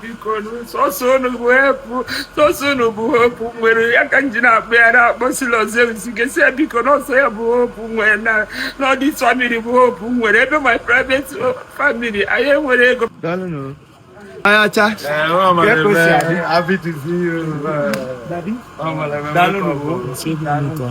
biko sọsọ unu bụ hope m nwere ya ka m ji na-akpọ ya na-akpọ sị Lord Zeus ga-asị ya biko na ọ sọ ya bụ hope m nwere na na ọ this family bụ hope m nwere ebe my private family anyị enwere ego ayacha happy to see you. Daddy? Ọmọlẹ́mẹ́ Daalụ mẹ́kọ̀ọ́. n'ụwa.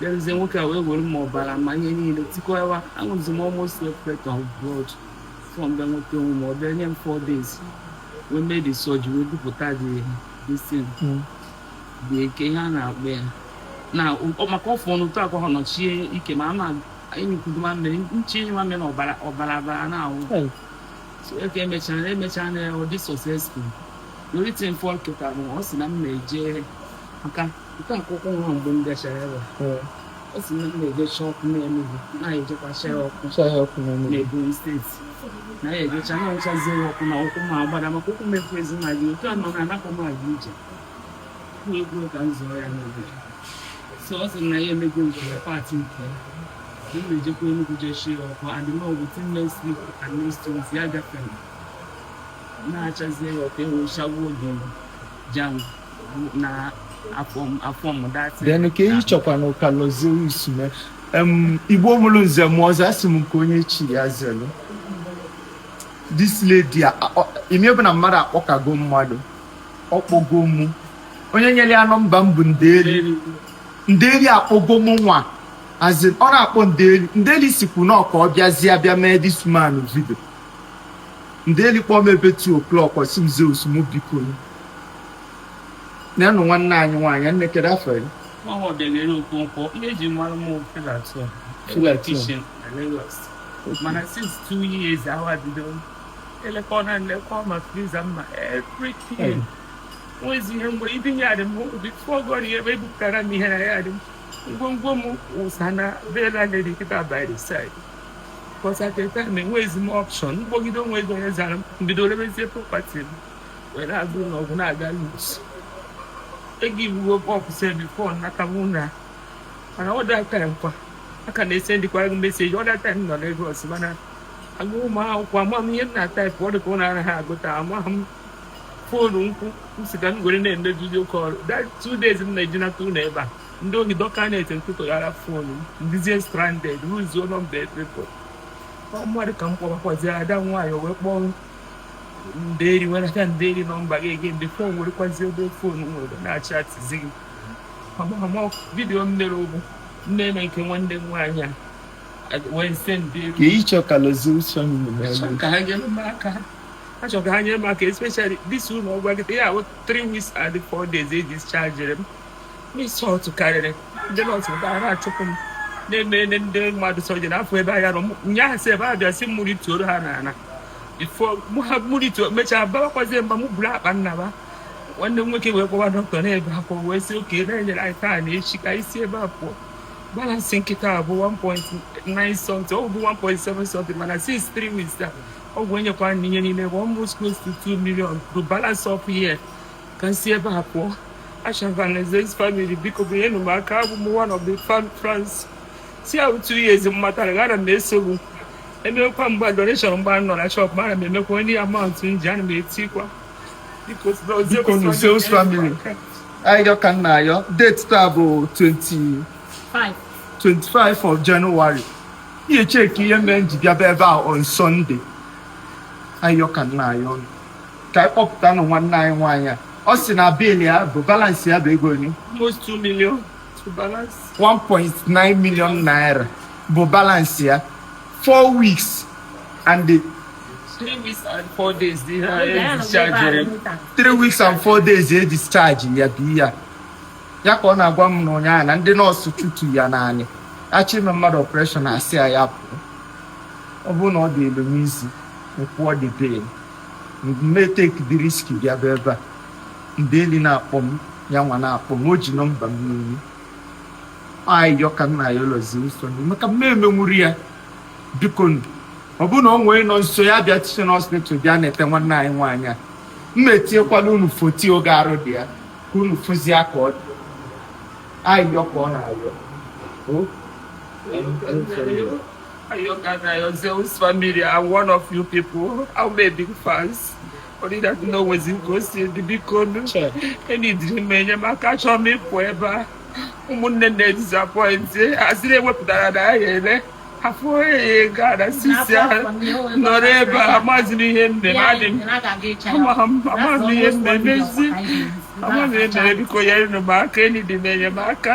bịaruzie nwoke a wee were ma ọbara ma ihe niile tikọwa aṅụzi m almost a plate of blood before m bịa nweta onwe m ọ bịa nye m four days wee mee the surgery wee bupụta the this thing dị eke ihe a na-akpọ ya na ọ- maka ọfụ ọnụ ụtọ akwa ha nọchie ike ma ama enyikwudo ma mmiri nche enyi ma mmiri na ọbara ọbara abara na-awụ Hey. so eke emechara na emechara na ọ dị successful the only thing fọ kịta bụ ọ sị na m na-eje aka nke a akwụkwọ nwa mgbe m gachara ebe ọ sị na m na-eje chaa ọkụ n'Enugu na anyị ejekwa chaa ọkụ chaa ya ọkụ n'Enugu n'Ebonyi State na anyị ejecha na ọchazie ọkụ na ụkwụ m agbada maka ụkwụ m efu ezi na gị otu a nọ na anapụ m aga ije kwuo ekwuo ka m zụọ ya n'obodo so ọ sị na ya emego nke ya part nke ya m na-ejekwa Enugu jee chaa ya ọkụ and no within next week and next two weeks ya gafere na-achazie ya ọkụ enwechagbuo oge m ja-anwụ then ka eyi chọkwa na ọ ka Lord Zeus mee m igbo mụrụ nze mụọ ọzọ asị m nke onye chi ya zelu this lady ime bụ na mmadụ akpọkago mmadụ ọ kpọgo mụ onye nyere ya nọmba m bụ nderi nderi akpọgo mụ nwa as in ọ na-akpọ nderi nderi sikwu na Ọka ọ bịazie bịa mee this man video nderi kpọọ m ebe 2 o'clock ọ sị m Zeus mụ biko nyanụ nwanne anyị nwaanyị nne kedu afa gị ọdegere Okonkwo eji mara m filato filatishin na Lagos mana since two years ahụ a bido elekọ na nlekọ ma freezer ma everything nwezi ihe mgbe ibi yard m before God ya ebe ebupụtara m ihe na yard m ngwongwo m wụsa na be landlady kịta by the side because at the time enwezi m option m kpọgide o nwerọ onye zara m bido rebezie property m were agụ na ọgwụ na-aga loose egivugo up sef before n'aka mụ na mana all that time kwa ka m na-esendịkwa gị message all that time m nọ Lagos mana agụ m akwụkwọ ama m ihe m na-atype ọ dị ka ọ na-anaghị agụta ama m fonu ukwu m sị ka m were na-eme video call that two days m na-eji nata ụlọ ebe a ndị ohi dọka na-ete ntụtụghara fonu m m dịzie stranded lose-uo nọmba epepo ọ mmadụ ka m kpọbakwazi ada nwaanyị o wee kpọọ ndeeri were aka ndeeri nọmba gị again fon werekwazi ebe fon nwere na-achatịzi gị amamọ vidiyo m mere ụgbụ nne na nke nwanne m nwaanyị a wee sendieri ka ịchọ ka Lord Zeus ka ha nyere m aka achọ ka ha nyere m aka especially this ụlọ ọgwụ gị ya 3 weeks and 4 days e dischargere m Insult karịrị ndị nọọsụ ebe a na-achụpụ m na-emere ndị mmadụ surgery n'afọ ebe anya nọ nyaahụ si ebe a bịa si mmiri tuoro ha n'ala before mụ ha mmiri tuo mechaa bawakwazie mba mụ buru akpa m naba nwanne m nwoke wee kpọwa dọkịta na-ebe akwa wee sị okay na-enyere anyị taa na echi ka anyị si ebe a pụọ balansị m kịta a bụ 1.9 something ọ bụ 1.7 something mana since 3 weeks a ọgwụ e nyekwa na ihe niile bụ almost close to 2 million to balance up here ka m si ebe a pụọ achọva Zeus family biko bụ nyenụ m aka abụ m one of the fans since two years m matara gị ana m eso gị emekwa mgbe donation mgbe m nọ na shọp ma ana m emekwa any amount m ji ana m etikwa biko biko nụ Zeus family ayọ ka m na-ayọ date taa bụ 25 of January ihe cheki ihe mere m ji bịaba ebe a on Sunday ayọ ka m na-ayọ nụ ka anyị kpọpụtanụ nwanne anyị nwaanyị a ọ sị na bill ya bụ balansị ya bụ ego one almost 2 million to balance. 1.9 million naira bụ balansị ya 4 weeks and the Three weeks and four days dị ha Oge ya nọ discharge ebe a, mita. 3 weeks and 4 days e discharge ya bụ ya ya ka ọ na-agwa m n'ụnyaahụ na ndị nọọsụ chutu ya n'anị achọ ime mmadụ ọpreshọn asị ya ya pụọ ọ bụrụ na ọ dịịlụ m easy m kwụọ the bill m ma-etake the risk bịaba ebe a ndeeli na-akpọ m ya nwa na-akpọ m o ji nọmba m n'olu ayọ ka m na-ayọ Lord Zeus maka m ma-emenwuru ya biko ọ bụrụ na onye nọ nso ya bịa teaching hospital bịa neta nwanne anyị nwaanyị a m ma-etinyekwalụ unu foto oge arụ dị ya ka unu fụzie ka ọ dị ayọ ka ọ na-ayọ Ayọ ka m na-ayọ Zeus family I'm one of you people. I'm a big fans. Only that na o nwezi ka o si dị, bikonụ. Eneedịrị m enyemaka achọ m ịpụ ebe a. ụmụnne m disappointed asị na-ewepụtara n'ahịa ele afọ ee gaa na since a nọrọ ebe a amaghịzi m ihe nne m adị m amaghị m ihe m na-emezi amaghị m ihe m na-eme biko nyenụ m aka eneedị m enyemaka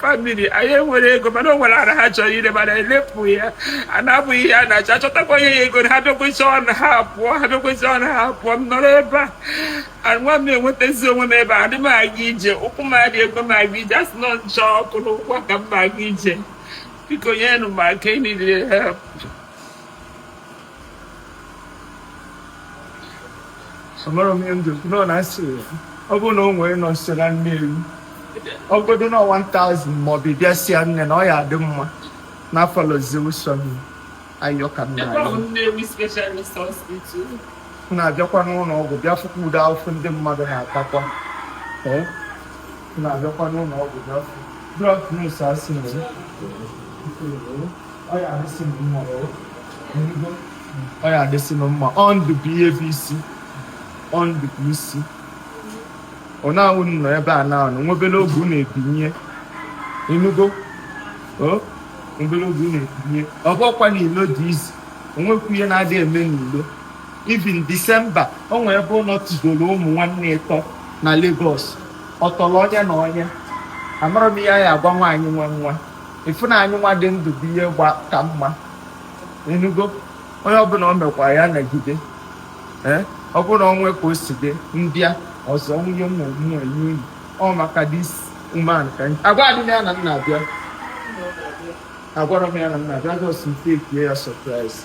famili anyị enwere ego mana o nwere ara ha chọrọ ire mana elepụ ya a na-abụghị ihe a na-achọ achọtakwa ihe ya ego na ha bịa kwesịa ọnụ ha apụọ ha bịa kwesịa ọnụ ha apụọ m nọrọ ebe a nwa m enwetazi onwe m ebe a adị m aga ije ụkwụ m adị ekwe m aga ije asị nọ nchọ ọkụ n'ụkwụ ka m aga ije biko nyenụ m aka I need help amarọ m ihe m ji ekwu nọ na asị ọ bụrụ na o nwere nọ nso na Nnewi ọ bụgodo na 1000 maọbụ ị bịa sị ya nne na ọ ya adị mma n'afọ Lord Zeus Family ayọ ka m na-ayọ Nnewi Specialist Hospital. m na-abịakwa n'ụlọ ọgwụ bịa fụkwa ụdị ahụhụ ndị mmadụ na-atakwa Ee, m na-abịakwa n'ụlọ ọgwụ bịa fụ drug nurse asị m ọ ya adịsị m mma o. Ịnụgo. ọ ya adịsị m mma ọ ndụ bụ ihe bụ isi ọ ndụ bụ isi ọ na-awụ m nọ ebe a na-anọ nwebere oge unu ebinye ịnụgo o nwebere oge unu ebinye ọ bụkwa na ilo dị easy o nwekwu ihe na-adị eme n'ilo even December o nwee ebe ụlọ tụdoro ụmụ nwanne ịtọ na Lagos ọ tọrọ onye na onye amarọ m ihe a ya agwa nwaanyị nwe nwa ị fụ na anyị nwa dị ndụ bụ ihe gba ka mma ịnụgo onye ọbụla o mekwa ya nagide ee ọ bụrụ na o nwe ka o si dị m bịa ọzọ nwee ihe m mee nye unu ọ maka this woman ka anyị agwadị m ya na m na-abịa agwarọ m ya na m na-abịa just m takie ya surprise